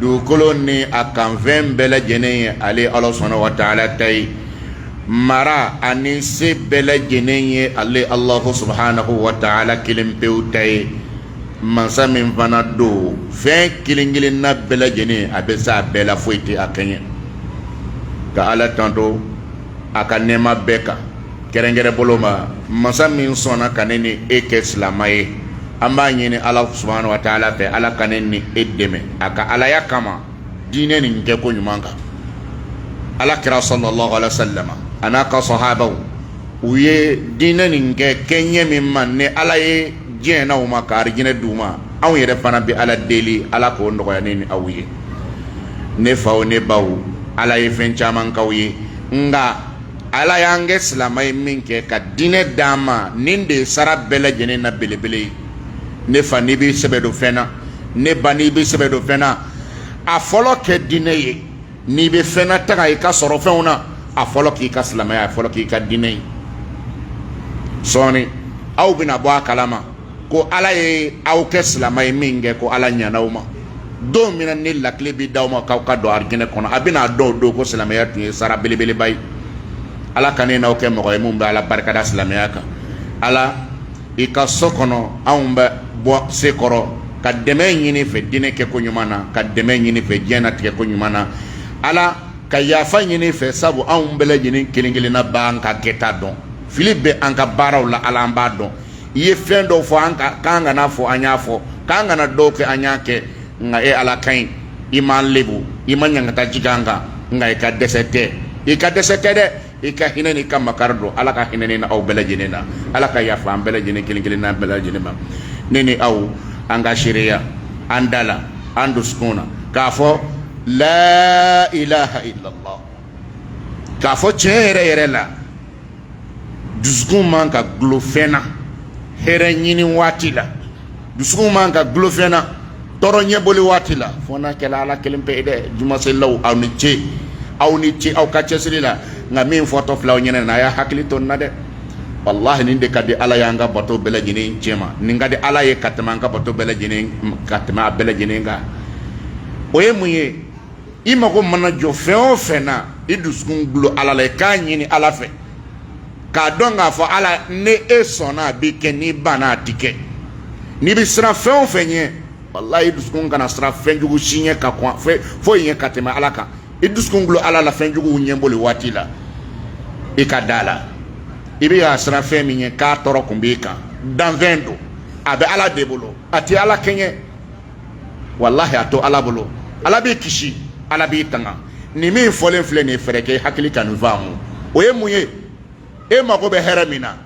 dugukolo ni a kanfɛn bɛɛ lajɛlen ye ale ala subahanahu wa taala ta ye mara ani se bɛɛ lajɛlen ye ale alahu subahanahu wa taala kelen pewu ta ye mansa min fana don fɛn kelen kelenna bɛɛ lajɛlen a bɛ se a bɛɛ la foyi tɛ a kɛɲɛ ka ala tanto a ka nɛɛma bɛɛ kan kɛrɛnkɛrɛn bolo ma masa min sɔnna ka ne ni e kɛ silama ye an b'a ɲini ala subahana wa taala fɛ ala ka ne ni e dɛmɛ a ka alaya kama diinɛ nin kɛ ko ɲuman kan ala kira salalahu alayhi wa salama a n'a ka sahabaw u ye diinɛ nin kɛ kɛɲɛ min ma ni ala ye diɲɛ na u ma ka arijinɛ d'u ma anw yɛrɛ fana bɛ ala deli ala k'o nɔgɔya ne ni aw ye ne faw ne baw ala ye fɛn caman k'aw ye nka ala y'an kɛ silama ye min kɛ ka diinɛ d'an ma nin de ye sara bɛɛ lajɛlen na belebele ye ne fa n'i b'i sɛbɛ don fɛn na ne ba n'i b'i sɛbɛ don fɛn na a fɔlɔ kɛ diinɛ ye n'i bɛ fɛn na taga i ka sɔrɔ fɛnw na a fɔlɔ k'i ka silamɛya a fɔlɔ k'i ka diinɛ ye sɔɔni aw bɛna bɔ a kalama ko ala ye aw kɛ silama ye min kɛ ko ala ɲɛna aw ma don min ni lakile bɛ d'aw ma k'aw ka don arijinɛ kɔnɔ a bɛna n'a dɔn o don ko silamɛya tun ye sara belebeleba ye ala ka ne n'aw kɛ mɔgɔ ye min bɛ ala barikada silamɛya kan ala i ka so kɔnɔ anw bɛ bɔ sen kɔrɔ ka dɛmɛ ɲini fɛ diinɛ kɛ ko ɲuman na ka dɛmɛ ɲini fɛ diɲɛnatigɛ ko ɲuman na ala ka yafa ɲini fɛ sabu anw bɛɛ lajɛlen kelen kelenna b'an ka kɛta dɔn fili bɛ an ka baaraw la ala an b'a dɔn i ye fɛn dɔw fɔ an ka k'an kana fɔ an y'a fɔ k'an kana dɔw kɛ an y'a kɛ nka e ala ka ɲi i m'an lebu i ma ɲangata jigin an kan nka i ka dɛsɛ tɛ i ka dɛsɛ tɛ dɛ i ka hinɛ n'i ka makari don ala ka hinɛ ni aw bɛɛ lajɛlen na ala ka yafa an bɛɛ lajɛlen kelen kelenna bɛɛ lajɛlen ma ne ni aw an ka seereya an da la an dusukun na k'a fɔ la ilaha illallah k'a fɔ tiɲɛ yɛrɛ yɛrɛ la dusukun man ka gulo fɛn na hɛrɛ ɲini waati la dusukun man ka gulo fɛn na tɔɔrɔ ɲɛboli waati la fo n'a kɛla ala kelen pe ye dɛ jumaselilaw aw ni ce aw ni ce aw ka cɛsiri la nka min fɔtɔ filɛ aw ɲɛna a y'a hakili to nin na dɛ walahi nin de ka di ala y'an ka bato bɛɛ lajɛlen cɛ ma nin ka di ala ye ka tɛmɛ an ka bato bɛɛ lajɛlen ka tɛmɛ a bɛɛ lajɛlen kan o ye mun ye i mago mana jɔ fɛn o fɛn na i dusukun gulo ala la i k'a ɲini ala fɛ k'a dɔn k'a fɔ ala ni e sɔnna a bi kɛ n'i banna a ti kɛ n'i bɛ siran fɛn o fɛn ɲɛ walayi i dusukun kana siran fɛn jugu si ɲɛ ka kɔn foyi ɲɛ ka tɛmɛ ala kan i dusukun gulo ala la fɛn juguw ɲɛboli waati la i ka da la i bɛ ka siran fɛn min ɲɛ k'a tɔɔrɔ kun b'i kan danfɛn don a bɛ ala de bolo a tɛ ala kɛɲɛ walahi a to ala bolo ala b'i kisi ala b'i tanga nin min fɔlen filɛ nin ye fɛɛrɛ kɛ i hakili ka nin faamu o ye mun ye e mago bɛ hɛrɛ min na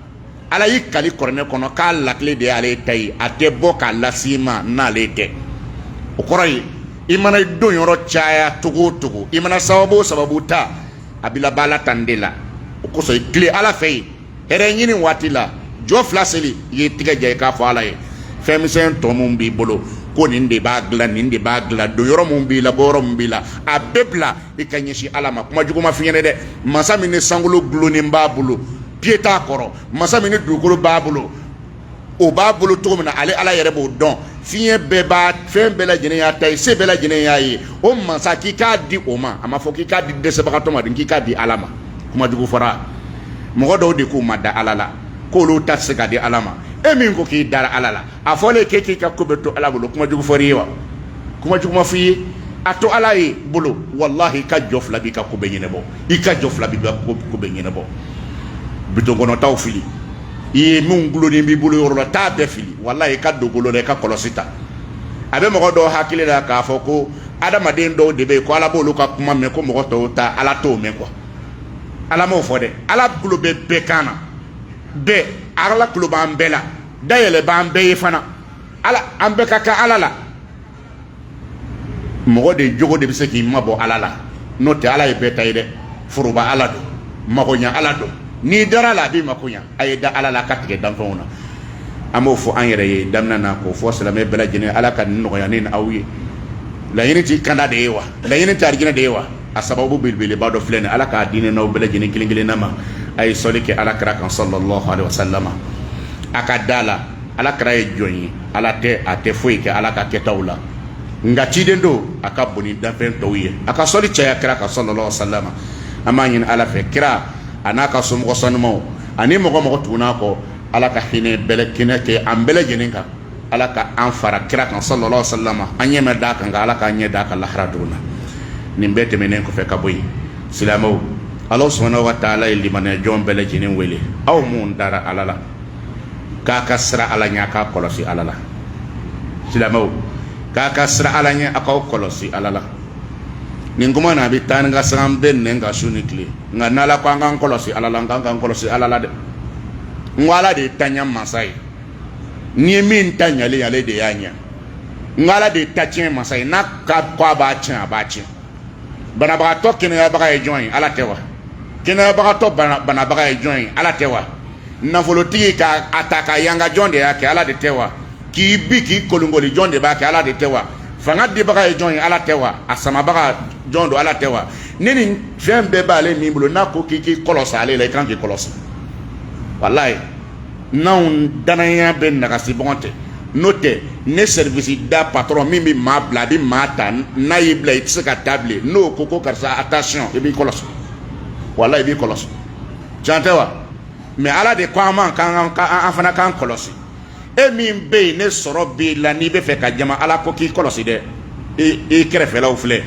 ala y'i kali kɔrɔnɛ kɔnɔ k'a lakile de y'ale ta ye a tɛ bɔ k'a lase i ma n'ale tɛ o kɔrɔ ye i mana i don yɔrɔ caya cogo o cogo i mana sababu o sababu ta a bɛ laban ala tan de la o kosɔn i tilen ala fɛ yen hɛrɛ ɲini waati la jɔ fila seli i ye tigɛ ja i k'a fɔ ala ye fɛn misɛn tɔ mun b'i bolo ko nin de b'a dilan nin de b'a dilan don yɔrɔ mun b'i la bɔ yɔrɔ mun b'i la a bɛɛ bila i ka ɲɛsin ala ma kuma jugu ma f'i ɲɛna dɛ masa min ni sankolo gulonnen b'a bolo piye t'a kɔrɔ masa min ni dugukolo b'a bolo o b'a bolo cogo min na ale ala yɛrɛ b'o dɔn fiɲɛ bɛɛ b'a fɛn bɛɛ lajɛlen y'a ta ye se bɛɛ lajɛlen y'a ye o masa k'i k'a di o ma a ma fɔ k'i k'a di dɛsɛbagatɔ ma k'i k'a di ala ma kuma jugu fɔra mɔgɔ dɔw de k'u ma da ala la k'olu tɛ se k'a di ala ma e min ko k'i dara ala la a fɔlen k'e k'i ka ko bɛɛ to ala bolo kuma jugu fɔra i ye wa kuma jugu ma f'i ye a to ala ye bolo walahi i ka jɔ fila b'i ka ko bɛɛ ɲɛnabɔ i ka jɔ fila b'i ka ko bɛɛ ɲɛnabɔ bidɔn kɔnɔtaw fili i ye min gulonlen b'i bolo yɔrɔ la t'a bɛɛ fili walayi i ka don bolo la i ka kɔlɔsi ta a bɛ mɔgɔ dɔw hakili la k'a fɔ ko adamaden dɔw de bɛ yen ko ala b'olu ka kuma mɛn ko mɔgɔ tɔw ta ala t'o mɛn kuwa ala m'o fɔ dɛ ala tulo bɛ bɛɛ kan na bɛɛ ala tulo b'an bɛɛ la dayɛlɛ b'an bɛɛ ye fana ala an bɛɛ ka kan ala la mɔgɔ de jogo de bɛ se k'i mabɔ ala la n'o tɛ ala ye bɛɛ ta ye dɛ foroba ala don magoɲa ala don n'i dar'a la a b'i makoɲa a ye da ala la ka tigɛ danfɛnw na an b'o fɔ an yɛrɛ ye daminɛ na k'o fɔ silamɛ bɛɛ lajɛlen ala ka nin nɔgɔya ne ni aw ye laɲini t'i kanda de ye wa laɲini tɛ arijinɛ de ye wa a sababu belebeleba dɔ filɛ nin ala k'a di ne n'aw bɛɛ lajɛlen kelen kelenna ma a ye sɔli kɛ ala kira kan sallallahu alaihi wasallam a ka d'a la ala kira ye jɔn ye ala tɛ a tɛ foyi kɛ ala ka kɛtaw la nka ciden don a ka bon ni danfɛn tɔw ye a ka sɔli caya kira kan sallallahu alaihi wasallam an b'a ɲini ala fɛ kira a n'a ka somɔgɔ sanumaw ani mɔgɔ o mɔgɔ tugun'a kɔ ala ka hinɛ bɛlɛ kɛnɛ kɛ an bɛɛ lajɛlen kan ala ka an fara kira kan sallallahu alaihi wasallam an ɲɛ ma d'a kan nka ala k'an ɲɛ d'a kan lahara don na nin bɛɛ tɛmɛnen kɔfɛ ka bɔ yen silamɛw ala subhanahu wa taala ye limaniya jɔn bɛɛ lajɛlen wele aw minnu dara ala la k'a ka siran ala ɲɛ a k'a kɔlɔsi ala la silamɛw k'a ka siran ala ɲɛ a k'aw kɔlɔsi ala la nin kuma na a bɛ taa ni ka siran bɛ nɛn ka su ni tile nka n'ala ko an k'an kɔlɔsi ala la an k'an k'an kɔlɔsi ala la dɛ n ko ala de ye taɲa masa ye n'i ye min ta ɲalen ale de y'a ɲɛ n ko ala de ye ta tiɲɛ masa ye n'a ka ko a b'a tiɲɛ a b'a tiɲɛ banabagatɔ kɛnɛyabaga ye jɔn ye ala tɛ wa kɛnɛyabagatɔ banabaga ye jɔn ye ala tɛ wa nafolotigi ka a ta ka yanga jɔn de y'a kɛ ala de tɛ wa k'i bin k'i kolonkoli jɔn de b'a kɛ ala de tɛ wa fanga dibaga ye jɔn ye ala tɛ wa a samabaga jɔn don ala tɛ wa ni nin fɛn bɛɛ b'ale min bolo n'a ko k'i k'i kɔlɔsi ale la i kan k'i kɔlɔsi walayi n'anw dannaya bɛ nagasi bɔgɔn tɛ n'o tɛ ne service da patron min bɛ maa bila a bɛ maa ta n'a y'i bila i tɛ se ka taa bilen n'o ko ko karisa attention i b'i kɔlɔsi walayi i b'i kɔlɔsi can tɛ wa mais ala de ko an ma k'an an fana k'an kɔlɔsi e min bɛ yen ne sɔrɔ b'i la n'i bɛ fɛ ka jama ala ko k'i kɔlɔsi dɛ i kɛrɛfɛlaw filɛ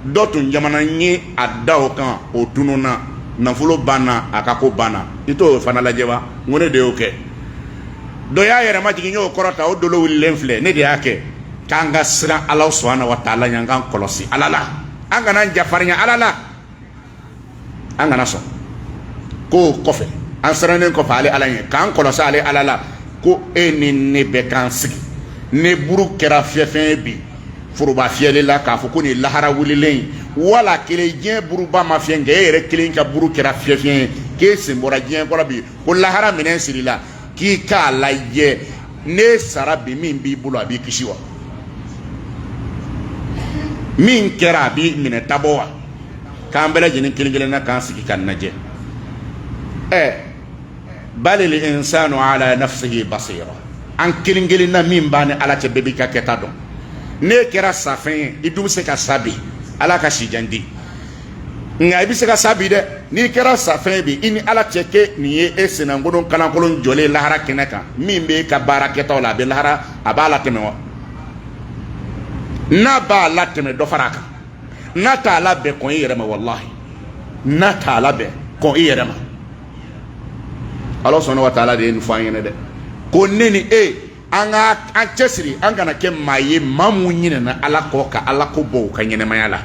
dɔ tun jamana ye a da o kan o tununna nafolo banna a ka ko banna i t'o fana lajɛ wa n ko ne de y'o kɛ dɔ y'a yɛrɛ majigin n y'o kɔrɔta o dolo wulilen filɛ ne de y'a kɛ k'an ka siran ala subhana wa taala ɲɛ an k'an kɔlɔsi ala la an kana n jafarinya ala la an kana sɔn k'o kɔfɛ an sirannen kɔfɛ ale ala ɲɛ k'an kɔlɔsi ale ala la ko e ni ne bɛ k'an sigi n'e buru kɛra fiyɛfɛn ye bi foroba fiyɛli la k'a fɔ ko nin ye lahara wulilen ye wala kelen diɲɛ buruba ma fiyɛ nka e yɛrɛ kelen ka buru kɛra fiyɛfɛn ye k'e sen bɔra diɲɛ ko la bi ko lahara minɛn sirila k'i k'a lajɛ n'e sara bi min b'i bolo a b'i kisi wa min kɛra a b'i minɛ tabɔ wa k'an bɛɛ lajɛlen kelen kelen na k'an sigi k'an lajɛ ɛɛ balil insanu ala nafsihi basira an kelen kelen na min b'a ni ala cɛ bɛɛ b'i ka kɛta dɔn n'e kɛra safɛn ye i dun bɛ se ka sa bi ala ka si jan di nka i bɛ se ka sa bi dɛ n'i kɛra safɛn ye bi i ni ala cɛ kɛ nin ye e senankolon kalankolon jɔlen lahara kɛnɛ kan min bɛ e ka baara kɛtaw la a bɛ lahara a b'a latɛmɛ wa n'a b'a latɛmɛ dɔ fara a kan n'a t'a labɛn kɔn i yɛrɛ ma walahi n'a t'a labɛn kɔn i yɛrɛ ma ala subhana wa taala de ye nin fɔ an ɲɛna dɛ ko ne ni e an ka an cɛsiri an kana kɛ maa ye maa mun ɲinɛna ala kɔ ka ala ko bɔ u ka ɲɛnamaya la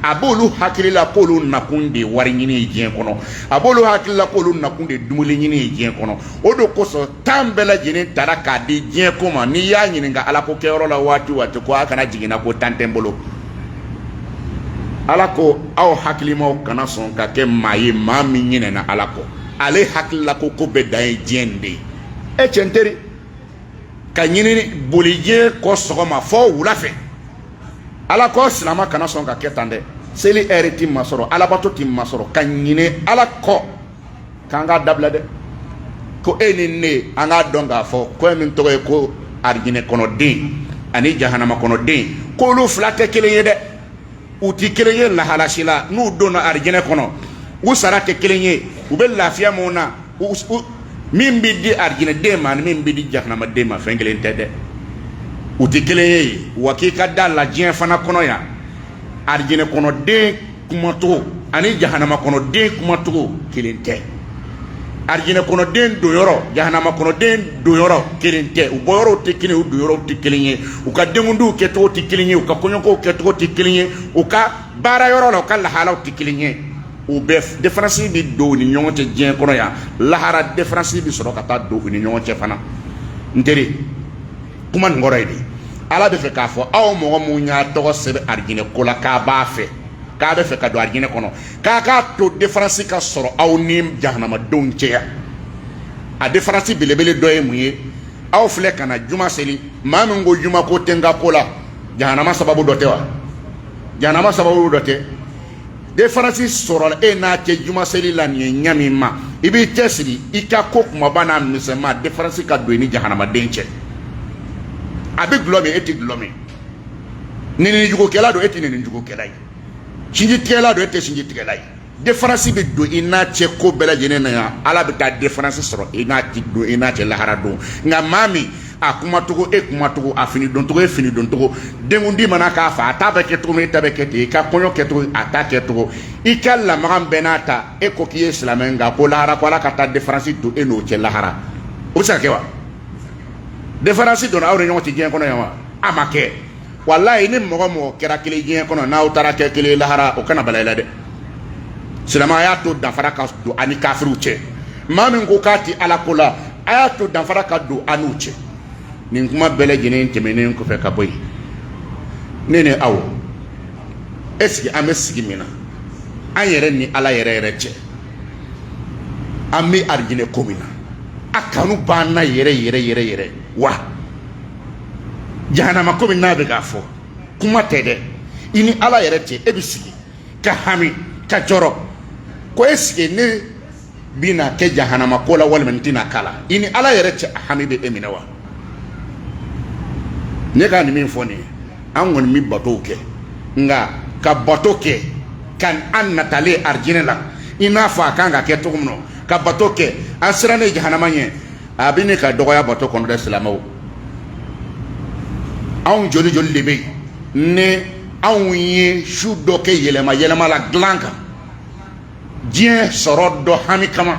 a b'olu hakili la k'olu nakun de ye wari ɲini ye diɲɛ kɔnɔ a b'olu hakili la k'olu nakun de ye dumuni ɲini ye diɲɛ kɔnɔ o de kosɔn temps bɛɛ lajɛlen tara k'a di diɲɛ ko ma n'i y'a ɲininka ala ko kɛyɔrɔ la waati o waati ko a kana jiginna ko temps tɛ n bolo ala ko aw hakilimaw kana sɔn ka kɛ maa ye maa min ɲinɛna ala kɔ ale hakilila ko ko bɛɛ dan ye diɲɛ nin de ye e cɛ n teri ka ɲinini boli diɲɛ kɔ sɔgɔma fɔ wula fɛ ala ko silama kana sɔn ka kɛ tan dɛ seli ɛri t'i masɔrɔ alabato t'i masɔrɔ ka ɲinɛ ala kɔ k'an k'a dabila dɛ ko e ni ne an k'a dɔn k'a fɔ ko min tɔgɔ ye ko arijinɛ kɔnɔden ani jahanama kɔnɔden k'olu fila tɛ kelen ye dɛ u tɛ kelen ye lahala si la n'u donna arijinɛ kɔnɔ u sara tɛ kelen ye u bɛ lafiya mun na min bɛ di arijinɛden ma ani min bɛ di jahanamaden ma fɛn kelen tɛ dɛ u tɛ kelen ye wa k'i ka da a la diɲɛ fana kɔnɔ yan arijinɛ kɔnɔden kumacogo ani jahanama kɔnɔden kumacogo kelen tɛ arijinɛ kɔnɔden donyɔrɔ jahanama kɔnɔden donyɔrɔ kelen tɛ u bɔyɔrɔw tɛ kelen u donyɔrɔw tɛ kelen ye u ka denkundiw kɛcogo tɛ kelen ye u ka kɔɲɔkow kɛcogo tɛ kelen ye u ka baarayɔrɔ la u ka lahalaw tɛ kelen ye u bɛɛ différence bɛ don u ni ɲɔgɔn cɛ diɲɛ kɔnɔ yan lahara différence bɛ sɔrɔ ka taa don u ni ɲɔgɔn cɛ fana n teri kuma nin kɔrɔ ye de ala bɛ fɛ k'a fɔ aw mɔgɔ minnu y'a tɔgɔ sɛbɛn arijinɛ ko la k'a b'a fɛ k'a bɛ fɛ ka don arijinɛ kɔnɔ k'a k'a to différence ka sɔrɔ aw ni jahanamadenw cɛ yan a différence belebele dɔ ye mun ye aw filɛ ka na juma seli maa min ko juma ko tɛ n ka ko la jahanama sababu dɔ tɛ wa jahanama sababu dɔ tɛ différence sɔrɔla e n'a cɛ jumaseli la nin ye ɲɛ min ma i b'i cɛsiri i ka ko kumaba n'a misɛnman différence ka don i ni jahanamaden cɛ a bɛ gulɔ min e tɛ gulɔ min ninijugukɛla don e tɛ ninijugukɛla ye sinjitigɛla don e tɛ sinjitigɛla ye différence bɛ don i n'a cɛ ko bɛɛ lajɛlen na yan ala bɛ taa différence sɔrɔ i n'a don i n'a cɛ lahara don nka maa min a kumacogo e kumacogo a fini doncogo e fini doncogo denkundi mana k'a fɛ a ta bɛ kɛ cogo min e ta bɛ kɛ ten i ka kɔɲɔ kɛcogo a ta kɛcogo i ka lamaga bɛɛ n'a ta e ko k'i ye silamɛ nka ko lahara ko ala ka taa différence don e n'o cɛ lahara o bɛ se ka kɛ wa différence donna aw ni ɲɔgɔn cɛ diɲɛ kɔnɔ yan wa a ma kɛ walayi ni mɔgɔ mɔgɔ kɛra kelen diɲɛ kɔnɔ n'aw taara kɛ kelen lahara o kana bala i la dɛ silamɛ a y'a to danfara ka don an ni kafiriw cɛ maa min ko k'a ti ala ko la a y'a to danfara ka don an n'u cɛ nin kuma bɛɛ lajɛlen tɛmɛnen kɔfɛ ka bɔ yen ne ni aw est-ce que an bɛ sigi min na an yɛrɛ ni ala yɛrɛ yɛrɛ cɛ an bɛ arijinɛ ko min na a kanu b'an na yɛrɛ yɛrɛ yɛrɛ yɛrɛ wa jahanama ko min a bɛ k'a fɔ kuma tɛ dɛ i ni ala yɛrɛ cɛ e bɛ sigi ka hami ka jɔrɔ ko est-ce que ne bɛna kɛ jahanama ko la walima n tɛna k'a la i ni ala yɛrɛ cɛ a hami bɛ e minɛ wa ne ka nin min fɔ nin ye an kɔni bɛ batow kɛ nka ka bato kɛ ka an natalen arijinɛ la i n'a fɔ a kan ka kɛ cogo min na ka bato kɛ an sirannen jahanama ɲɛ a bɛ ne ka dɔgɔya bato kɔnɔ dɛ silamaw anw joli joli de bɛ yen ni anw ye su dɔ kɛ yɛlɛma yɛlɛma la dilan kan diɲɛ sɔrɔ dɔ hami kama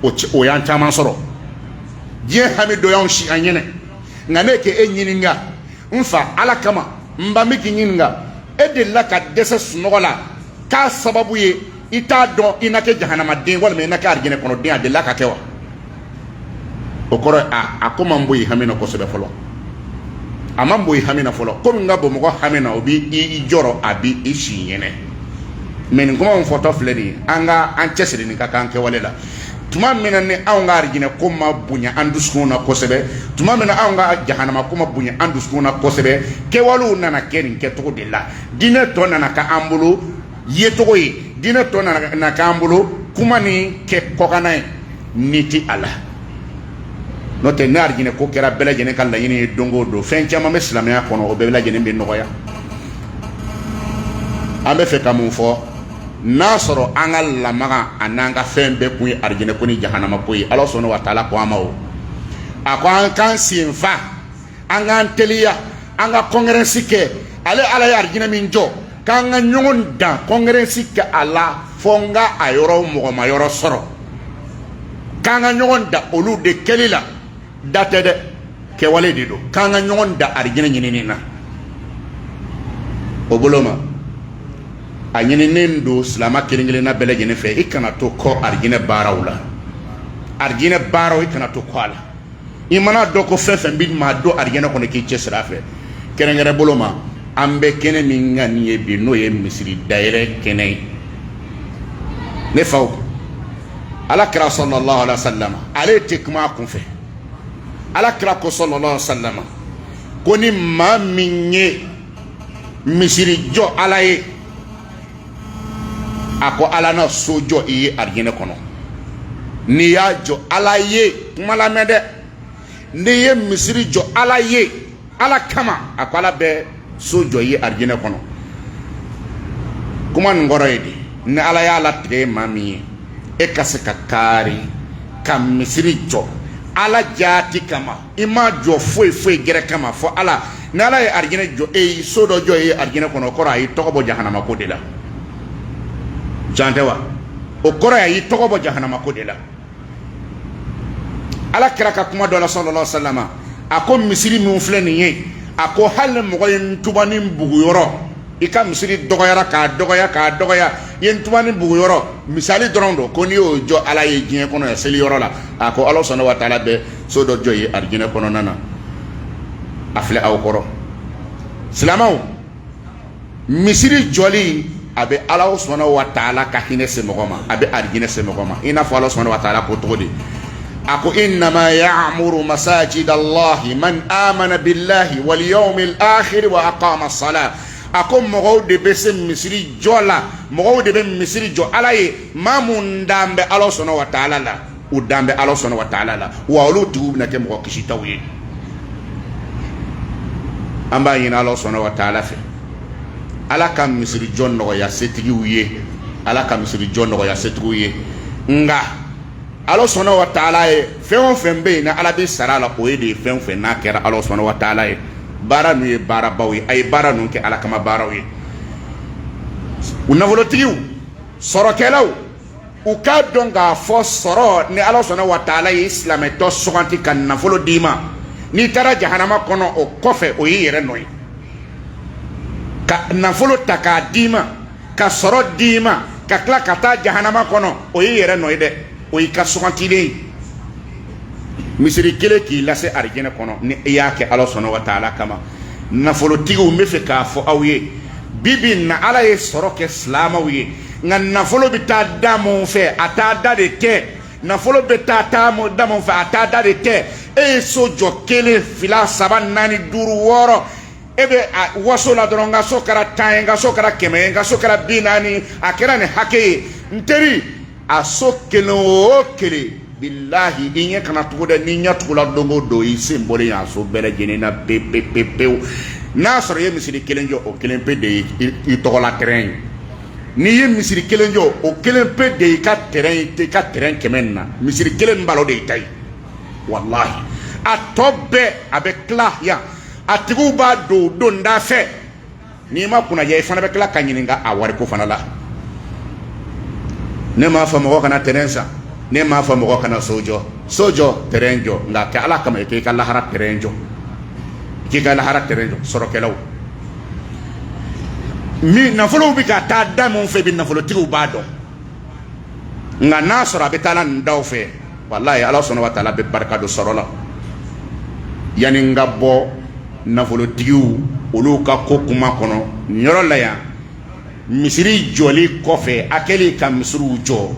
o o y'an caman sɔrɔ diɲɛ hami dɔ y'anw si an ɲɛ na nka ne k'e ɲininka n fa ala kama n ba n bɛ k'i ɲininka e delila ka dɛsɛ sunɔgɔ la k'a sababu ye i t'a dɔn i na kɛ jahanamaden walima i na kɛ arijinɛ kɔnɔden a delila ka kɛ wa o kɔrɔ ye a a ko ma bɔ i hami na kosɛbɛ fɔlɔ a ma bɔ i hami na fɔlɔ ko min ka bɔ mɔgɔ hami na o b'i jɔrɔ a b'i si i ɲɛ na mɛ nin kuma min fɔtɔ filɛ nin ye an ka an cɛsirilen ka kan kɛwale la tuma min na ni anw ka arijinɛ ko ma bonya an dusukunw na kosɛbɛ tuma min na anw ka jahanama ko ma bonya an dusukunw na kosɛbɛ kɛwalew nana kɛ nin kɛcogo de la diinɛ tɔ nana k'an bolo ye tɔgɔ ye diinɛ tɔ nana k'an bolo kuma ni kɛ kɔkanna ye nii t'a la n'o tɛ ni arijinɛ ko kɛra bɛɛ lajɛlen ka laɲini ye don o don fɛn caman bɛ silamɛya kɔnɔ o bɛɛ lajɛlen bɛ nɔgɔya an b'a fɛ ka mun fɔ n'a sɔrɔ an ka lamaga ani an ka fɛn bɛɛ kun ye arijinɛ ko ni jahanama ko ye ala subahana wa taala ko an ma o a ko an k'an sen fa an k'an teliya an ka kɔnkɛrɛnsi kɛ ale ala ye arijinɛ min jɔ k'an ka ɲɔgɔn dan kɔngerɛnsi kɛ a la fo n ka a yɔrɔ mɔgɔ ma yɔrɔ sɔrɔ k'an ka ɲɔgɔn dan olu de kɛli la da tɛ dɛ kɛwale de don k'an ka ɲɔgɔn dan arijinɛ ɲinini na o bolo ma a ɲininen don silama kelen kelenna bɛɛ lajɛlen fɛ i kana to kɔ arijinɛ baaraw la arijinɛ baaraw i kana to kɔ a la i mana a dɔn ko fɛn fɛn bɛ maa don arijinɛ kɔnɔ k'i cɛsiri a fɛ kɛrɛnkɛrɛn bolo ma an bɛ kɛnɛ min kan nin ye bi n'o ye misiri dayɛlɛ kɛnɛ ye ne faw ala kira salalahu alayihi wa salama ale tɛ kuma a kunfɛ ala kira ko salalahu salama ko ni maa min ye misiri jɔ ala ye a ko ala na so jɔ i ye arijinɛ kɔnɔ n'i y'a jɔ ala ye kuma lamɛn dɛ n'i ye misiri jɔ ala ye ala kama a ko ala bɛ so jɔ i ye arijinɛ kɔnɔ kuma nin kɔrɔ ye di ni ala y'a latigɛ ye maa min ye e ka se ka kaari ka misiri jɔ ala jaati kama i m'a jɔ foyi foyi gɛrɛ kama fɔ ala ni ala ye arijinɛ jɔ e ye so dɔ jɔ e ye arijinɛ kɔnɔ o kɔrɔ a y'i tɔgɔ bɔ jahanama ko de la can tɛ wa o kɔrɔ a y'i tɔgɔ bɔ jahanama ko de la ala kira ka kuma dɔ la sallallahu alaihi wasallam a ko misiri min filɛ nin ye a ko hali mɔgɔ ye ntubanin bugu yɔrɔ i ka misiri dɔgɔyara k'a dɔgɔya k'a dɔgɔya i ye ntubanin bugu yɔrɔ misali dɔrɔn don ko n'i y'o jɔ ala ye diɲɛ kɔnɔ yan seli yɔrɔ la a ko ala subhanahu wa taala bɛ so dɔ jɔ i ye arijinɛ kɔnɔna na a filɛ aw kɔrɔ silamɛw misiri jɔli a bɛ ala subhanahu wa taala ka hinɛ se mɔgɔ ma a bɛ arijinɛ se mɔgɔ ma i n'a fɔ ala subhanahu wa taala ko cogo di a ko innama ya'muru masajid allahi man amana billahi wal yawmil akhir wa aqama salat a ko mɔgɔw de bɛ se misiri jɔ la mɔgɔw de bɛ misiri jɔ ala ye maa minnu dannen bɛ ala subhanahu wa taala la u dannen bɛ ala subhanahu wa taala la wa olu tigiw bɛna kɛ mɔgɔ kisitaw ye an b'a ɲini ala subhanahu wa taala fɛ ala ka misiri jɔ nɔgɔya setigiw ye ala ka misiri jɔ nɔgɔya setigiw ye nka ala subhanahu wa taala ye fɛn o fɛn bɛ yen ni ala bɛ sara la o ye de ye fɛn o fɛn n'a kɛra ala subhanahu wa taala ye baara ninnu ye baarabaw ye a ye baara ninnu kɛ ala kama baaraw ye u nafolotigiw sɔrɔkɛlaw u k'a dɔn k'a fɔ sɔrɔ ni ala subhanahu wa taala y'i silamɛtɔ suganti ka nafolo d'i ma n'i taara jahanama kɔnɔ o kɔfɛ o y'i yɛrɛ nɔ ye ka nafolo ta k'a d'i ma ka sɔrɔ d'i ma ka tila ka taa jahanama kɔnɔ o y'i yɛrɛ nɔ ye dɛ o y'i ka sugantilen ye misiri kelen k'i lase arijɛnɛ kɔnɔ ni i y'a kɛ ala subhanahu wa taala kama nafolotigiw n b'a fɛ k'a fɔ aw ye bi bi in na ala ye sɔrɔ kɛ silamɛw ye nka nafolo bɛ taa da minnu fɛ a taa da de tɛ nafolo bɛ taa da minnu fɛ a taa da de tɛ e ye so jɔ kelen fila saba naani duuru wɔɔrɔ e bɛ waso la dɔrɔn n ka so kɛra tan ye n ka so kɛra kɛmɛ ye n ka so kɛra bi naani a kɛra nin hakɛ ye n teri a so kelen o kelen bilahi i ɲɛ kana tugu dɛ n'i ɲɛ tugula don o don i sen bɔlen y'a so bɛɛ lajɛlen na pe pe pe pewu n'a sɔrɔ i ye misiri kelen jɔ o kelen pe de ye i tɔgɔla tɛrɛn ye n'i ye misiri kelen jɔ o kelen pe de y'i ka tɛrɛn ye i ka tɛrɛn kɛmɛ nin na misiri kelen min b'a la o de y'i ta ye walahi a tɔ bɛɛ a bɛ tila yan a tigiw b'a don u don da fɛ n'i ma kunnadiya i fana bɛ tila ka ɲininka a wariko fana la ne m'a fɔ mɔgɔ kana terrain san ne m'a fɔ mɔgɔ kana so jɔ so jɔ terrain jɔ nka kɛ ala kama i k'i ka lahara terrain jɔ i k'i ka lahara terrain jɔ sɔrɔkɛlaw min nafolow bɛ ka taa da min fɛ bi nafolotigiw b'a dɔn nka n'a sɔrɔ a bɛ taa nin daw fɛ walayi ala sɔnna wa taala bɛ barika don sɔrɔ la yanni n ka bɔ nafolotigiw olu ka ko kuma kɔnɔ nin yɔrɔ la yan misiri jɔli kɔfɛ a kɛlen ka misiriw jɔ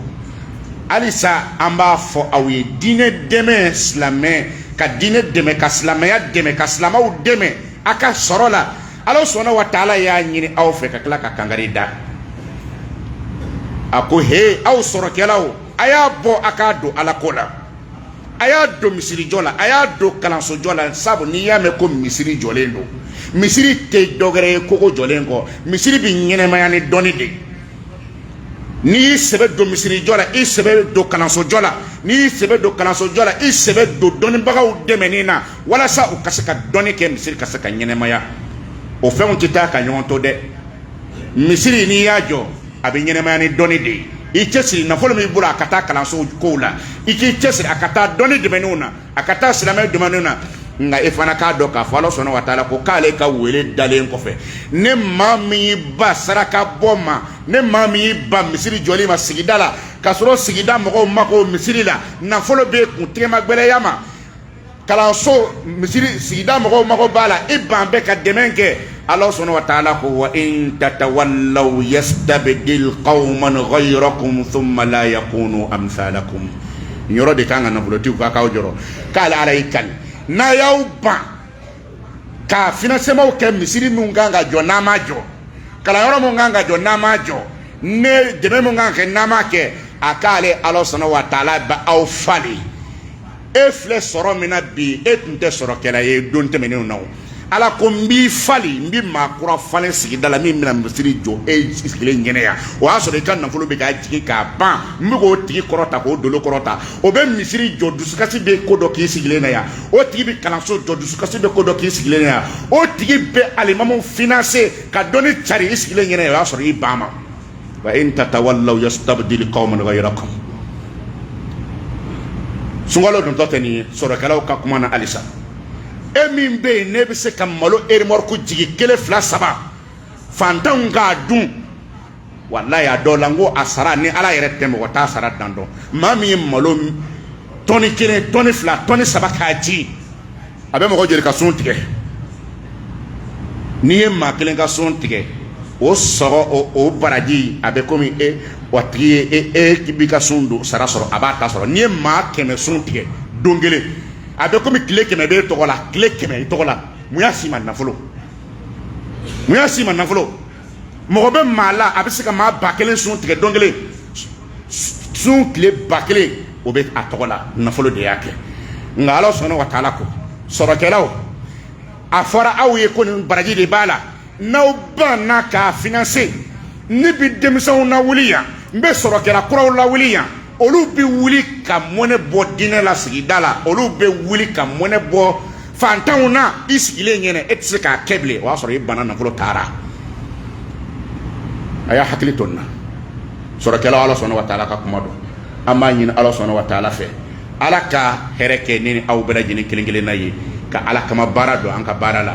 halisa an b'a fɔ aw ye diinɛ dɛmɛ silamɛ ka diinɛ dɛmɛ ka silamɛya dɛmɛ ka silamɛw dɛmɛ a ka sɔrɔ la ala sɔnna wa taala y'a ɲini aw fɛ ka tila ka kangari da a ko he aw sɔrɔkɛlaw a y'a bɔ a k'a don ala ko la a y'a don misirijɔ la a y'a don kalansojɔ la sabu n'i y'a mɛn ko misiri jɔlen don misiri tɛ dɔgɛrɛ ye kogo jɔlen kɔ misiri bɛ ɲɛnɛmaya ni dɔnni de n'i y'i sɛbɛ don misirijɔ la i sɛbɛ don kalansojɔ la n'i y'i sɛbɛ don kalansojɔ la i sɛbɛ don dɔnnibagaw dɛmɛni na walasa u ka se ka dɔnni kɛ misiri ka se ka ɲɛnɛmaya o fɛnw tɛ taa ka ɲɔgɔn to dɛ misiri n'i y'a jɔ a bɛ ɲɛnɛmaya ni dɔnni de ye i cɛsiri nafolo min bolo a ka taa kalanso kow la i k'i cɛsiri a ka taa dɔnni dɛmɛniw na a ka taa silamɛ dɛmɛniw na nka e fana k'a dɔn k'a fɔ ala sɔnna wa taala ko k'ale ka wele dalen kɔfɛ ni maa min y'i ban saraka bɔ ma ni maa min y'i ban misiri jɔli ma sigida la k'a sɔrɔ sigida mɔgɔw mako misiri la nafolo b'e kun tɛgɛmagbɛlɛya ma kalanso misiri sigida mɔgɔw mago b'a la i ban bɛ ka dɛmɛ kɛ ala sɔnna wa taala ko wa in tatawallaw yastabdil qawman ghayrakum thumma la yakunu amthalakum yɔrɔ de kan ka nafolotigiw ka k'aw jɔrɔ k'ale ala y'i kali n'a y'aw ban ka financement kɛ misiri min kan ka jɔ n'a ma jɔ kalanyɔrɔ min kan ka jɔ n'a ma jɔ ni dɛmɛ min kan ka kɛ n'a ma kɛ a k'ale ala sɔnna wa taala bɛ aw falen e filɛ sɔrɔ min na bi e tun tɛ sɔrɔkɛla ye don tɛmɛnenw na o ala ko n b'i falen n bɛ maa kura falen sigida la min bɛna misiri jɔ e sigilen ɲɛna yan o y'a sɔrɔ i ka nafolo bɛ k'a jigin k'a ban n bɛ k'o tigi kɔrɔta k'o dolo kɔrɔta o bɛ misiri jɔ dusukasi bɛ ko dɔ k'i sigilen na yan o tigi bɛ kalanso jɔ dusukasi bɛ ko dɔ k'i sigilen na yan o tigi bɛ alimamu finance ka dɔnni cari i sigilen ɲɛna yan o y'a sɔrɔ i ban ma wa in tatawallaw yastabdil qawman ghayrakum sunkalo dontɔ tɛ nin ye sɔrɔkɛlaw ka kuma na halisa e min bɛ yen n'e bɛ se ka malo erimɔriku jigin kelen fila saba fantanw k'a dun walayi a dɔw la n ko a sara ni ala yɛrɛ tɛ mɔgɔ t'a sara dan dɔn maa min ye malo tɔni kelen tɔni fila tɔni saba k'a ji a bɛ mɔgɔ joli ka sun tigɛ n'i ye maa kelen ka sun tigɛ o sɔgɔ o o baraji a bɛ komi e wa tigi ye e e b'i ka sun don sara sɔrɔ a b'a ta sɔrɔ n'i ye maa kɛmɛ sun tigɛ don kelen a bɛ komi tile kɛmɛ b'e tɔgɔ la tile kɛmɛ i tɔgɔ la mun y'a s'i ma nafolo mun y'a s'i ma nafolo mɔgɔ bɛ maa la a bɛ se ka maa ba kelen sun tigɛ don kelen sun tile ba kelen o bɛ a tɔgɔ la nafolo de y'a kɛ nka ala subhana wa taala ko sɔrɔkɛlaw a fɔra aw ye ko nin baraji de b'a la n'aw banna k'a finanse ne bɛ denmisɛnw lawuli yan n bɛ sɔrɔkɛla kuraw lawuli yan olu bɛ wuli ka mɔnɛ bɔ diinɛ la sigida la olu bɛ wuli ka mɔnɛ bɔ fantanw na i sigilen ɲɛna e tɛ se k'a kɛ bilen o y'a sɔrɔ i banna nafolo taara a y'a hakili to nin na sɔrɔkɛlaw ala subhana wa taala ka kuma don an b'a ɲini ala subhana wa taala fɛ ala ka hɛrɛ kɛ ne ni aw bɛɛ lajɛlen kelen-kelenna ye ka ala kama baara don an ka baara la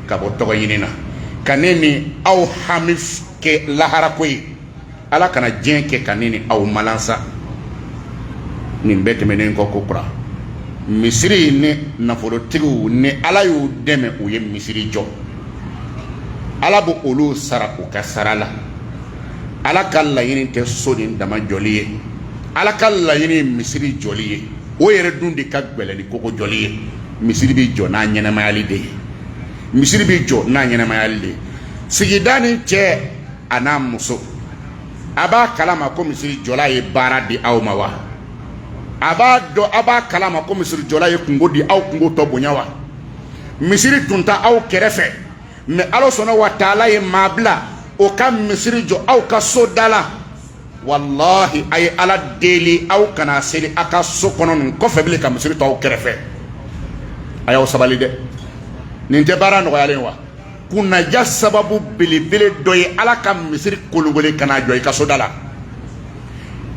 ka bɔ tɔgɔ ɲini na ka ne ni aw hami kɛ laharako ye ala kana diɲɛ kɛ ka ne ni aw malansa nin bɛɛ tɛmɛnen kɔ kokura misiri ni nafolotigiw ni ala y'u dɛmɛ u ye misiri jɔ ala bɛ olu sara u ka sara la ala ka laɲini tɛ so nin dama jɔli ye ala ka laɲini ye misiri jɔli ye o yɛrɛ dun de ka gɛlɛn ni koko jɔli ye misiri bɛ jɔ n'a ɲɛnamayali de ye misiri bɛ jɔ n'a ɲɛnamayali de sigida nin cɛ a n'a muso a b'a kalama ko misiri jɔla ye baara di aw ma wa a b'a dɔn a b'a kalama ko misiri jɔla ye kunko di aw kunko tɔ bonya wa misiri tun t'aw kɛrɛfɛ mɛ ala subhana wa taala ye maa bila o ka misiri jɔ aw ka so da la walahi a ye ala deli aw kana seli a ka so kɔnɔ nin kɔfɛ bilen ka misiri to aw kɛrɛfɛ a y'aw sabali dɛ nin tɛ baara nɔgɔyalen wa kunnaja sababu belebele dɔ ye ala ka misiri kologole ka na jɔ i ka soda la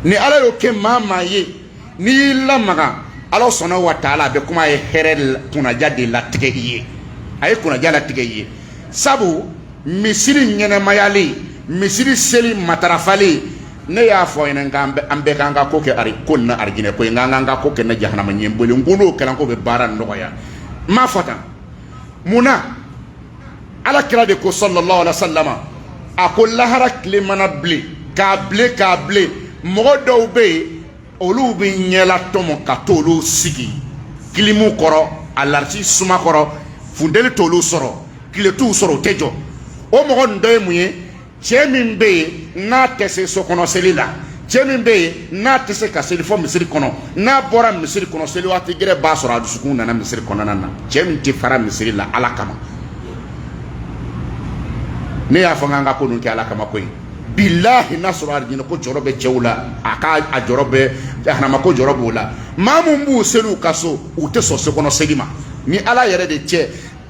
ni ala y'o kɛ maa maa ye n'i y'i lamaga ala subhana wa taala a bɛ kuma a ye hɛrɛ kunnaja de latigɛ i ye a ye kunnaja latigɛ i ye sabu misiri ɲɛnamayali misiri seli matarafali ne y'a fɔ aw ɲɛna k'an bɛ an bɛɛ k'an ka ko kɛ ari ko na arijinɛ ko ye nka an ka ko kɛ na jahanama ɲɛ boli n ko n'o kɛra ko bɛ baara nɔgɔya n m'a fɔ tan mun na ala kira de ko sallallahu alaihi wasallam a ko lahara tile mana bilen ka bilen ka bilen mɔgɔ dɔw bɛ yen olu bɛ ɲɛla tɔmɔ ka t'olu sigi kilimu kɔrɔ alarisi suma kɔrɔ funteni t'olu sɔrɔ tile t'u sɔrɔ u tɛ jɔ o mɔgɔ nin dɔ ye mun ye cɛ min bɛ yen n'a tɛ se sokɔnɔ seli la cɛ min bɛ yen n'a tɛ se ka seli fo misiri kɔnɔ n'a bɔra misiri kɔnɔ seli waati gɛrɛ b'a sɔrɔ a dusukun nana misiri kɔnɔna na cɛ min tɛ fara misiri la ala kama ne y'a fɔ k'an ka ko ninnu kɛ ala kama koyi bilahi n'a sɔrɔ alijinɛ ko jɔrɔ bɛ cɛw la a ka a jɔrɔ bɛ jahanama ko jɔrɔ b'o la maa min b'u seli u ka so u tɛ sɔn sokɔnɔ seli ma ni ala yɛrɛ de cɛ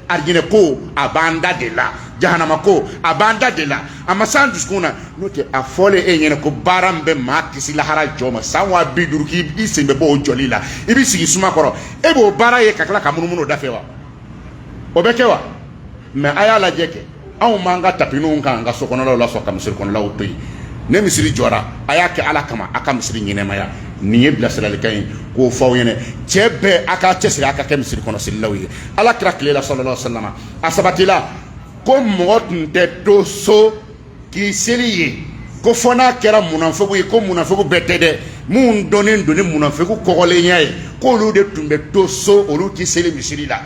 arijinɛ ko a b'an da de la jahanama ko a b'an da de la a ma s'an dusukun na n'o tɛ a fɔlen e ɲɛna ko baara min bɛ maa kisi lahara jɔ ma san wa bi duuru k'i sen bɛ bɔ o jɔli la i bɛ sigi suma kɔrɔ e b'o baara ye ka tila ka munumunu o da fɛ wa o bɛ kɛ wa mais a y'a lajɛ kɛ anw b'an ka tapininw kan an ka sokɔnɔlaw la sɔrɔ ka misiri kɔnɔlaw to yen ni misiri jɔra a y'a kɛ ala kama a ka misiri ɲɛnamaya nin ye bilasiralikan ye k'o fɔ aw ɲɛna cɛ bɛɛ a k'a cɛsiri a ka kɛ misiri kɔnɔ selilaw ye ala kira tile la sallallahu alaihi wa sallam a sabatila ko mɔgɔ tun tɛ to so k'i seli ye ko fo n'a kɛra munafegu ye ko munafegu bɛɛ tɛ dɛ minnu dɔnnen don ni munafegu kɔgɔlenya ye k'olu de tun bɛ to so olu tɛ seli misiri la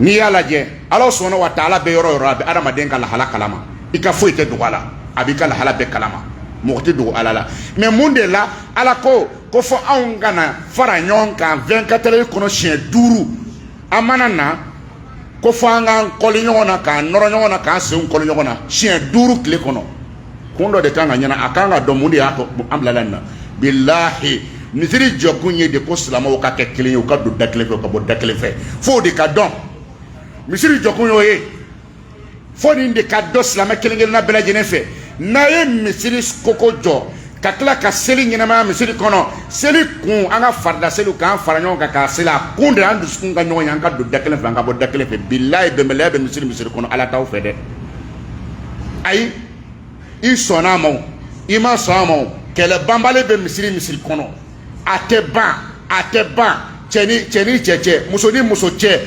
n'i y'a lajɛ ala subhana wa taala bɛ yɔrɔ o yɔrɔ a bɛ adamaden ka lahala kalama i ka foyi tɛ dogo a la a b'i ka lahala bɛɛ kalama mɔgɔ tɛ dogo ala la mais mun de la ala ko ko fo anw ka na fara ɲɔgɔn kan vingt-quatre heures kɔnɔ siɲɛ duuru an mana na ko fo an k'an kɔli ɲɔgɔn na k'an nɔrɔ ɲɔgɔn na k'an senw kɔli ɲɔgɔn na siɲɛ duuru tile kɔnɔ kun dɔ de kan ka ɲɛna a kan ka dɔn mun de y'a to an bilala nin na bilahi misiri jɔkun ye de ko silamɛw ka kɛ kelen ye u ka don da kelen fɛ ka bɔ da kelen fɛ fo o de ka dɔn misiri jɔkun y'o ye fo nin de ka dɔn silamɛ kelen kelenna bɛɛ lajɛlen fɛ n'a ye misiri kogo jɔ ka tila ka seli ɲɛnamaya misiri kɔnɔ seli kun an ka farida seliw k'an fara ɲɔgɔn kan k'a seli a kun de an dusukun ka ɲɔgɔn ye an ka don da kelen fɛ an ka bɔ da kelen fɛ bilahi bɛnbaliya bɛ misiri misiri kɔnɔ ala t'aw fɛ dɛ ayi i sɔnna a ma o i ma sɔn a ma o kɛlɛ banbali bɛ misiri misiri kɔnɔ a tɛ ban a tɛ ban cɛ ni cɛ cɛ muso ni muso cɛ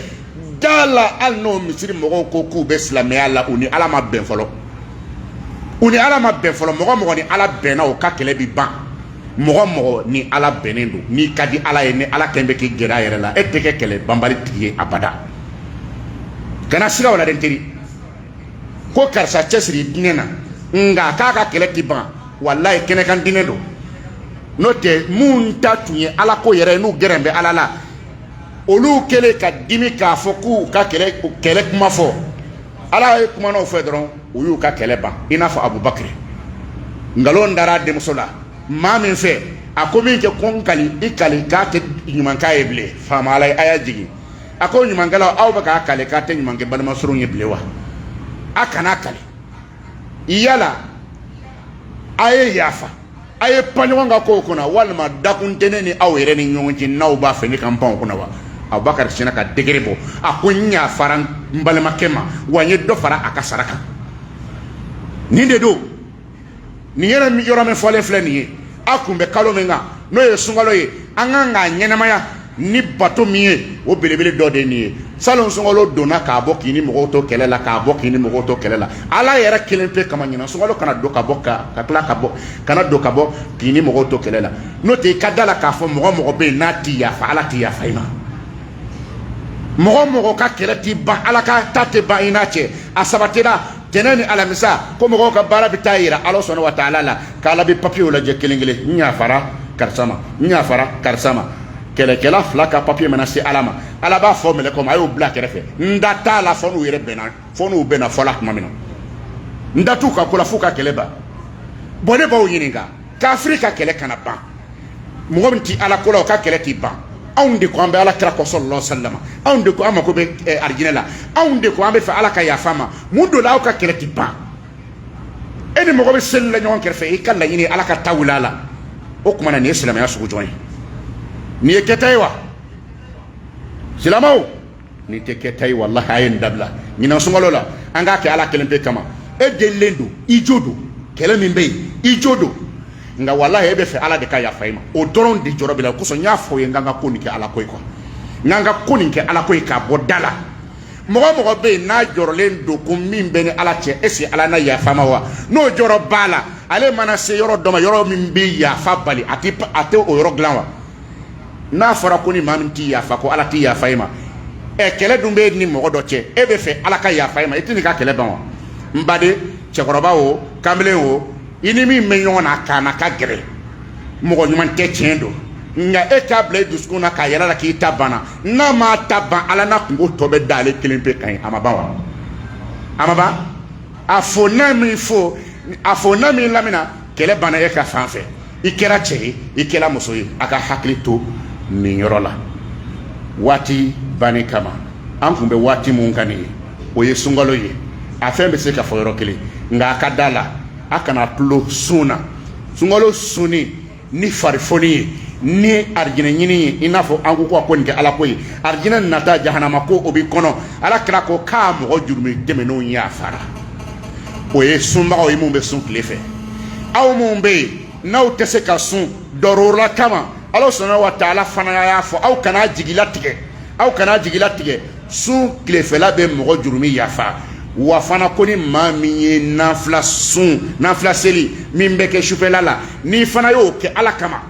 da la hali n'o misiri mɔgɔw ko k'u bɛ silamɛya la u ni ala ma bɛn fɔlɔ u ni ala ma bɛn fɔlɔ mɔgɔ mɔgɔ ni ala bɛnna o ka kɛlɛ bi ban mɔgɔ mɔgɔ ni ala bɛnnen don n'i ka di ala ye ni ala kɛn bɛ k'i gɛrɛ a yɛrɛ la e tɛ kɛ kɛlɛ banbali tigi ye abada kana siga o la dɛ n teri ko karisa cɛsiri diinɛ na nka k'a ka kɛlɛ tɛ ban walayi kɛnɛkan diinɛ don n'o tɛ minnu ta tun ye ala ko yɛrɛ ye n'u gɛrɛn bɛ ala la olu kɛlen ka dimi k'a fɔ k'u ka kɛlɛ kɛlɛ kuma fɔ ala ye kuma n'o fɛ dɔrɔn u y'u ka kɛlɛ ban i n'a fɔ abubakari nkalon dara denmuso la maa min fɛ a ko minkɛ ko n kali i kali k'a tɛ ɲuman k'a ye bilen faama ala ye aya jigin a ko ɲumankɛlaw aw bɛ k'a kali k'a tɛ ɲuman kɛ balimasurun ye bilen wa a kana kali yala a ye yafa a ye pan ɲɔgɔn ka kow kunna walima dakun tɛ ne ni aw yɛrɛ ni ɲɔgɔn cɛ n'aw b'a fɛ ne ka n pan o kunna wa abubakari sinna ka dekere bɔ a ko n yafara n balimakɛ ma wa n ye dɔ fara a ka sara kan nin de don nin yɛrɛ min yɔrɔ min fɔlen filɛ nin ye a kun bɛ kalo min kan n'o ye sunkalo ye an kan k'a ɲɛnamaya ni bato min ye o belebele dɔ de ye nin ye salon sunkalo donna k'a bɔ k'i ni mɔgɔw to kɛlɛ la k'a bɔ k'i ni mɔgɔw to kɛlɛ la ala yɛrɛ kelen pe kama ɲinan sunkalo kana don ka bɔ ka ka tila ka bɔ kana don ka bɔ k'i ni mɔgɔw to kɛlɛ la n'o tɛ i ka da la k'a fɔ mɔgɔ o mɔgɔ bɛ yen n'a ti yafa ala ti yafa i ma mɔgɔ o mɔgɔ ka kɛlɛ ti ban ala ka ta tɛ ban i n'a cɛ a sabatira tɛnɛ ni alamisa ko mɔgɔw ka baara bɛ taa yira ala subhana wa taala la k'ala bɛ papiyew lajɛ kelen kelen n yafara karisa ma n yafara karisa ma kɛlɛkɛla fila ka papiye mana se ala ma ala b'a fɔ mɛlɛkɛw ma a y'o bila kɛrɛfɛ n da t'a la fo n'u yɛrɛ bɛnna fo n'u bɛnna fɔla tuma min na n da t'u ka ko la f'u ka kɛlɛ ban bon ne b'aw ɲininka kafiri ka kɛlɛ kana ban mɔgɔ min ti ala ko la o ka kɛlɛ ti ban anw de ko an bɛ ala kira kɔ sallallahu alaihi wasallam anw de ko an mako bɛ eh, arijinɛ la anw de ko an b'a fɛ ala ka yafa an ma mun de la aw ka kɛlɛ ti ban e ni mɔgɔ bɛ seli la ɲɔgɔn kɛrɛfɛ i k'a laɲini ala ka ta wuli a la o tuma na nin ye silamɛya sugu jɔn ye nin ye kɛta ye wa silamaw Nin tɛ kɛta ye walahi a ye nin dabila ɲinan sunkalo la an k'a kɛ ala kelen pe kama e delilen don i jo don kɛlɛ min bɛ yen i jo don nka walahi e b'a fɛ ala de ka yafa i ma o dɔrɔn de jɔrɔ b'i la o kosɔn n y'a fɔ i ye n k'an ka ko nin kɛ ala ko ye n k'an ka ko nin kɛ ala ko ye k'a bɔ da la mɔgɔ o mɔgɔ bɛ yen n'a jɔrɔlen don ko min b'a ni ala cɛ est-ce ala na yafa a ma wa n'o jɔrɔ b'a la ale mana se yɔrɔ dɔ ma yɔrɔ min bɛ yafa bali a tɛ o yɔrɔ dilan wa n'a fɔra ko ni maa min ti yafa ko ala ti yafa i ma ɛ kɛlɛ dun b'e ni mɔgɔ dɔ cɛ e b'a fɛ ala ka yafa i ma i tɛ n'i ka kɛlɛ ban wa n baden cɛkɔrɔba o kamalen o i ni min bɛ ɲɔgɔn na k'a na ka gɛrɛ mɔgɔ ɲuman tɛ tiɲɛ don nka e k'a bila i dusukun na k'a yira ala la k'i ta banna n'a m'a ta ban ala n'a kunko tɔ bɛ da ale kelen pe kan ye a ma ban wa a ma ban a fo n'a m'i fo a fo n'a m'i lamina kɛlɛ banna e ka fan fɛ i kɛra cɛ ye i kɛra muso ye a k'a hakili to nin yɔrɔ la waati banni kama an kun bɛ waati min kan nin ye o ye sunkalo ye a fɛn bɛ se ka fɔ yɔrɔ kelen nka a ka da la a kana tulon sun na sunkalo sunni ni farifoni ye ni arijinɛ ɲini ye i n'a fɔ an ko ko a ko nin kɛ ala ko ye arijinɛ nata jahanama ko o b'i kɔnɔ ala kira ko k'a mɔgɔ jurumi tɛmɛnenw yafara o ye sunbagaw ye minnu bɛ sun tile fɛ aw minnu bɛ yen n'aw tɛ se ka sun dɔrɔla kama ala subhana wa taala fana y'a fɔ aw kana jigilatigɛ aw kana jigilatigɛ sun tilefɛla bɛ mɔgɔ jurumi yafa wa fana ko ni maa min ye nafila sun nafila seli min bɛ kɛ sufɛla la n'i fana y'o kɛ ala kama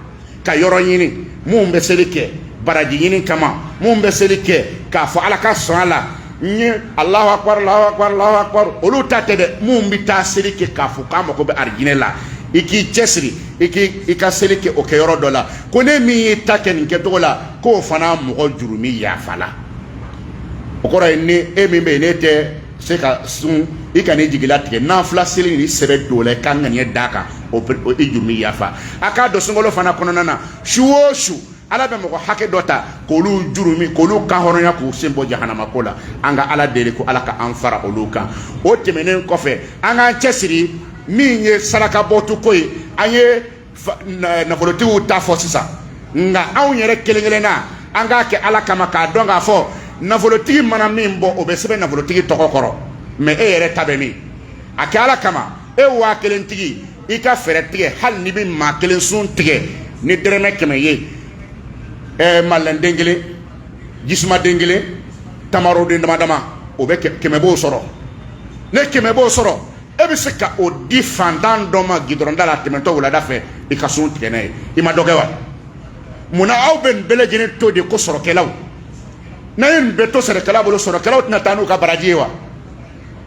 ka yɔrɔ ɲini minnu bɛ seli kɛ baraji ɲini kama minnu bɛ seli kɛ k'a fɔ ala ka sɔn a la n ye alahu akbar alahu akbar alahu akbar olu ta tɛ dɛ minnu bɛ taa seli kɛ k'a fɔ k'a mago bɛ arijinɛ la i k'i cɛsiri i k'i i ka seli kɛ o kɛ yɔrɔ dɔ la ko ne min y'i ta kɛ nin kɛcogo la k'o fana mɔgɔ jurumi yafa la o kɔrɔ ye ni e min bɛ yen n'e tɛ se ka sun i kan'i jigi latigɛ nafila seli ni sɛbɛ don la i ka ŋaniya d'a kan o i jurumi yafa a k'a dɔn sunkalo fana kɔnɔna na su o su ala bɛ mɔgɔ hakɛ dɔ ta k'olu jurumi k'olu kan hɔrɔnya k'u sen bɔ jahanama ko la an ka ala deli ko ala ka an fara olu kan o tɛmɛnen kɔfɛ an k'an cɛsiri min ye sarakabɔto ko ye an ye nafolotigiw ta fɔ sisan nka anw yɛrɛ kelen kelenna an k'a kɛ ala kama k'a dɔn k'a fɔ nafolotigi mana min bɔ o bɛ sɛbɛn nafolotigi tɔgɔ kɔrɔ mɛ e yɛrɛ ta bɛ min a kɛ ala kama e waa kelen tigi i ka fɛɛrɛ tigɛ hali n'i bɛ maa kelen sun tigɛ ni dɛrɛmɛ kɛmɛ ye ɛɛ malɛnden kelen jisumaden kelen tamaroden dama dama o bɛɛ kɛmɛ b'o sɔrɔ ni kɛmɛ b'o sɔrɔ e bɛ se ka o di fantan dɔ ma gidɔrɔnda la tɛmɛtɔ wulada fɛ i ka sun tigɛ n'a ye i ma dɔ kɛ wa munna aw bɛ nin bɛɛ lajɛlen to de ko sɔrɔkɛlaw n'a ye nin bɛɛ to sɔrɔkɛla bolo sɔrɔkɛlaw tɛna taa n'u ka baraji ye wa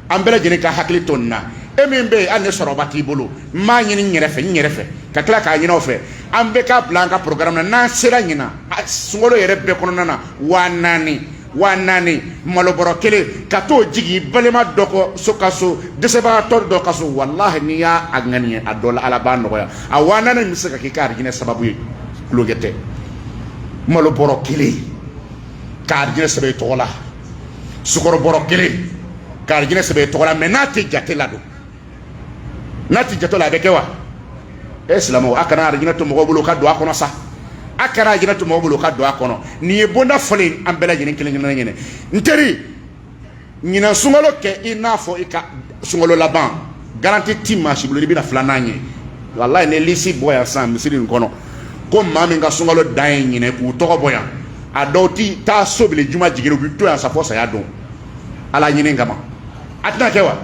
an bɛɛ lajɛlen ka hakili to nin na e min bɛ yen hali ni sɔrɔba t'i bolo n b'a ɲini n yɛrɛ fɛ n yɛrɛ fɛ ka tila k'a ɲini aw fɛ an bɛɛ k'a bila an ka programme na n'an sera ɲina sunkalo yɛrɛ bɛɛ kɔnɔna na waa naani waa naani malobɔrɔ kelen ka t'o jigin balima dɔ kɔ so ka so dɛsɛbagatɔ dɔ ka so walahi n'i y'a ŋaniya a dɔ la ala b'a nɔgɔya a waa naani bɛ se ka k'i ka arijinɛ sababu ye tulonkɛ tɛ malobɔrɔ kelen ka arijinɛ sɛbɛn i tɔgɔ la sukɔrɔbɔrɔ kelen ka arijinɛ sɛbɛn i tɔgɔ la mɛ n'a tɛ jate la don n'a t'i jate la a bɛ kɛ wa e silamɛw a kana arijinɛ to mɔgɔw bolo ka don a kɔnɔ sa a kana arijinɛ to mɔgɔw bolo ka don a kɔnɔ nin ye bonda fɔlen an bɛɛ lajɛlen kelen kelen ɲɛnɛ n teri ɲinan sunkalo kɛ i n'a fɔ i ka sunkalo laban garanti ti maa si bolo i bɛna filanan ye walayi ni lisi bɔ yan sisan misiri in kɔnɔ ko maa min ka sunkalo dan ye ɲinan k'u tɔgɔ bɔ yan a dɔw ti taa so bile juma jigin u bi to yan sa fɔ saya don ala ɲini kama a tɛna kɛ wa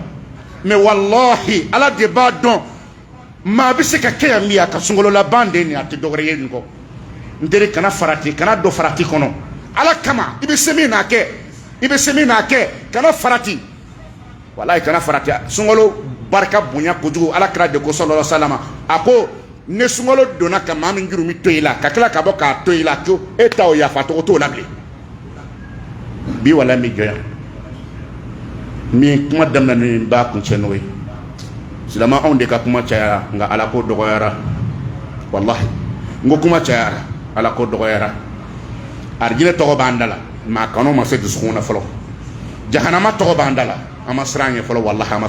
mɛ walahi ala de b'a dɔn maa bɛ se ka kɛ yan min a ka sunkalo laban de nin a tɛ dɔwɛrɛ ye nin kɔ n teri kana farati kana don farati kɔnɔ ala kama i bɛ se min n'a kɛ i bɛ se min n'a kɛ kana farati walayi kana farati sunkalo barika bonya kojugu ala kira de ko salala salama a ko ni sunkalo donna ka maa min jurumi to i la ka tila ka bɔ k'a to i la ko e ta o yafa tɔgɔ t'o la bilen bi wala bɛ jɔ yan min kuma daminɛ ni b'a kuncɛ n'o ye silama anw de ka kuma cayara nka ala ko dɔgɔyara walahi n ko kuma cayara ala ko dɔgɔyara arijinɛ tɔgɔ b'an da la mɛ a kanu ma se dusukun na fɔlɔ jahanama tɔgɔ b'an da la an ma siran ɲɛ fɔlɔ walahi an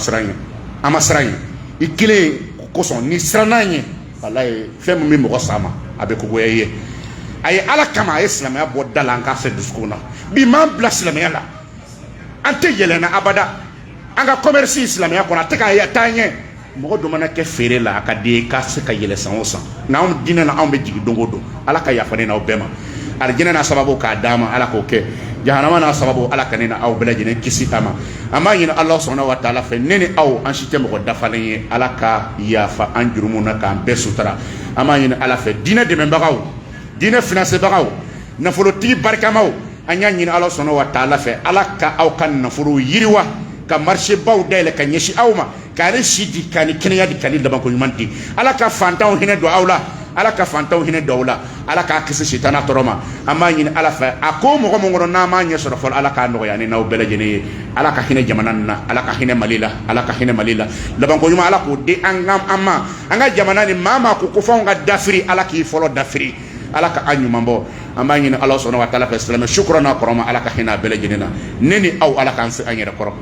ma siran ɲɛ i kelen kosɔn n'i siranna ɲɛ walahi fɛn min bɛ mɔgɔ sama a bɛ kogoya ye a ye ala kama a ye silamɛya bɔ da la an k'a se dusukun na bi m'an bila silamɛya la an tɛ yɛlɛnna abada an ka kɔmɛrisi silamɛya kɔnɔ a tɛ ka taa ɲɛ mɔgɔ dɔ mana kɛ feere la a ka di ye k'a se ka yɛlɛn san o san nka anw diinɛ na anw bɛ jigin don o don ala ka yafa ne n'aw bɛɛ ma alijɛnɛ n'a sababu k'a d'an ma ala k'o kɛ jahanama n'a sababu ala ka ne ni aw bɛɛ lajɛlen kisi a ma an b'a ɲini ala subhana wa taala fɛ ne ni aw an si tɛ mɔgɔ dafalen ye ala ka yafa an jurumu na k'an bɛɛ sutura an b'a ɲini ala fɛ diinɛ dɛmɛbagaw diinɛ finansebagaw nafolotigi barikamaw an y'a ɲini ala subhana wa taala fɛ ala ka aw ka nafolo yiriwa ka marisebaw dayɛlɛ ka ɲɛsin aw ma k'a ni si di k'a ni kɛnɛya di k'a ni labanko ɲuman di ala ka fantanw hinɛ don aw la ala ka fantanw hinɛ don aw la ala k'a kisi sitana tɔɔrɔ ma an b'a ɲini ala fɛ a ko mago min kɔnɔ n'an m'a ɲɛ sɔrɔ fɔlɔ ala k'a nɔgɔya ne n'aw bɛɛ lajɛlen ye ala ka hinɛ jamana nin na ala ka hinɛ mali la ala ka hinɛ mali la labanko ɲuman ala k'o di an ka an ma an ka jamana nin maa o maa ko ko f'anw ka dafiri ala k'i fɔlɔ dafiri ala ka an ɲuman bɔ an b'a ɲini ala subhana wa taala fɛ silamɛ su kura n'a kɔrɔma ala ka hinɛ a bɛɛ lajɛlen na ne ni aw ala k'an se an yɛrɛ kɔrɔ